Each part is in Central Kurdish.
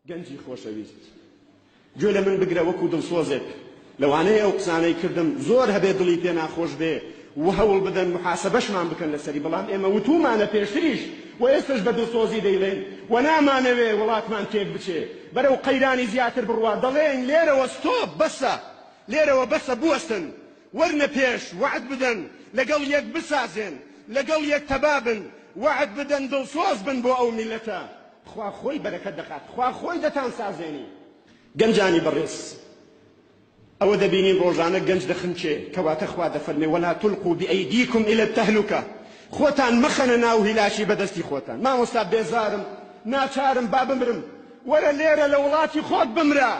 گەنجی خۆشەویست گوێ لە من بگرە وەکو دڵسۆزێک لەوانەیە ئەو قسانەی کردم زۆر هەبێ دڵی پێ ناخۆش بێ و هەوڵ بدەن محاسبەشمان بکەن لەسەری بەڵام ئێمە وتومانە پێشتریش و ئێستش بە دڵسۆزی دەیڵێن و نامانەوێ وڵاتمان تێک بچێ بەرەو قەیرانی زیاتر بڕوات دەڵێن لێرەوە ستۆپ بەسە لێرەوە بەسە بوەستن وەرنە پێش وەعد بدەن لەگەڵ یەک بسازێن لەگەڵ یەک تەبابن وەعد بدەن دڵسۆز بن بۆ ئەو میلەتە خوا خۆی بەرەکەت دەخات خوا خۆی دەتان سازێنی گەنجانی بەڕێز ئەوە دەبینین ڕۆژانە گەنج دەخنکێ کەواتە خوا دەفەرمێ ولا تلقوا بأيديكم إلى التهلكة خۆتان مەخەنە ناو هیلاکی بەدەستی خۆتان مامۆستا بێزارم ناچارم با بمرم وەرە لێرە لە وڵاتی خۆت بمرە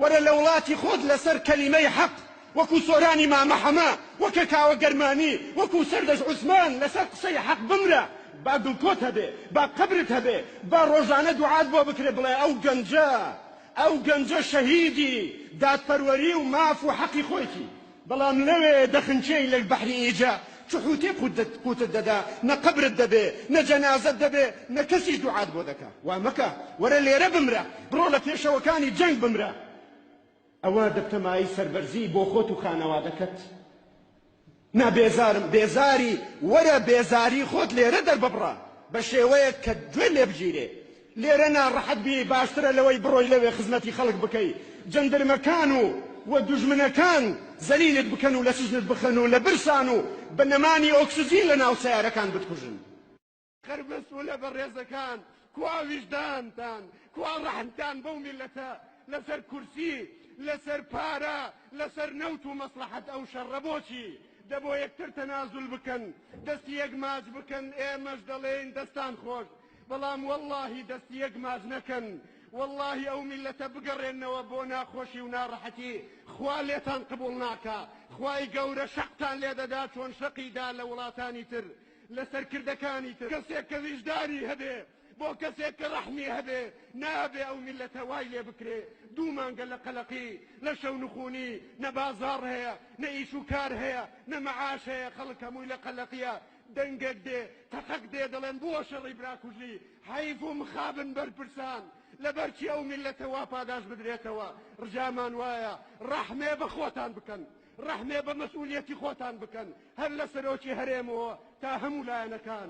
وەرە لە وڵاتی خۆت لەسەر کەلیمەی حەق وەکو سۆرانی مامە حەمە وەکە کاوە گەرمانی وەکو سەردەش عوسمان لەسەر قسەی حەق بمرە با گڵکۆت هەبێ با قەبرت هەبێ با ڕۆژانە دوعات بۆ بکرێ بڵێ ئەو گەنجە ئەو گەنجە شەهیدی دادپەروەری و ماف و حەقی خۆیتی بەڵام لەوێ دەخنکێی لە بەحری ئیجە چ حووتێک قووتت دەدا، نە قەبرت دەبێ، نە جەنازەت دەبێ، نە کەسیش دوعات بۆ دەکا. وا مەکە، وەرە لێرە بمرە، بڕۆ لە پێشەوەکانی جەنگ بمرە. ئەوە دەبتە مایەی سەربەرزی بۆ خۆت و خانەوادەکەت. نا بێزارم، بێزاری، وەرە بێزاری خۆت لێرە دەرببڕە بە شێوەیەک کە گوێ لێ بگیرێ. لێرە ناڕەحەت بیی باشترە لەوەی بڕۆی لەوێ خزمەتی خەڵک بکەی جەندرمەکان و و دوژمنەکان زەلیلت بکەن و لە سجنت بخەن و لە برسان و بە نەمانی ئۆکسجین لە ناو سەیارەکان بتکوژن. خەر مەسولە بەڕێزەکان کوا ویژدانتان کوا ڕەحمتان بەو میلەتە لەسەر کورسی لەسەر پارە لەسەر نەوت و مەسڵەحەت ئەو شەڕە بۆچی دە بۆ یەکتر تەنازول بکەن دەستی یەک ماچ بکەن ئێمەش دەڵێین دەستان خۆش بەڵام وەڵاهی دەست یەک ماز نەکەن وەڵاهی ئەو میلەتە بگەڕێنەوە بۆ ناخۆشی و ناڕەحەتی خوا لێتان قبوڵ ناکا خوای گەورە شەقتان لێ دەدا چۆن شەقی دا لە وڵاتانی تر لە سەرکردەکانی تر کەسێک کە ویژدانی هەبێ بۆ کەسێک کە ڕەحمی هەبێ نابێ ئەو میلەتە وای لێ بکرێ دوو مانگە لە قەلەقی لە شەو نخونی نە بازاڕ هەیە نە ئیش و کار هەیە نە مەعاش هەیە خەڵک هەمووی لە قەلەقیە دەنگەک دێ تەقەک دێ دەڵێن بووە شەڕی براکوژی حەیف و مخابن بەرپرسان لەبەرچی ئەو میللەتە وا پاداش بدرێتەوە ڕجامان وایە ڕەحمێ بە خۆتان بکەن ڕەحمێ بە مەسئولیەتی خۆتان بکەن هەر لە سەرۆکی هەرێمەوە تا هەموو لایەنەکان.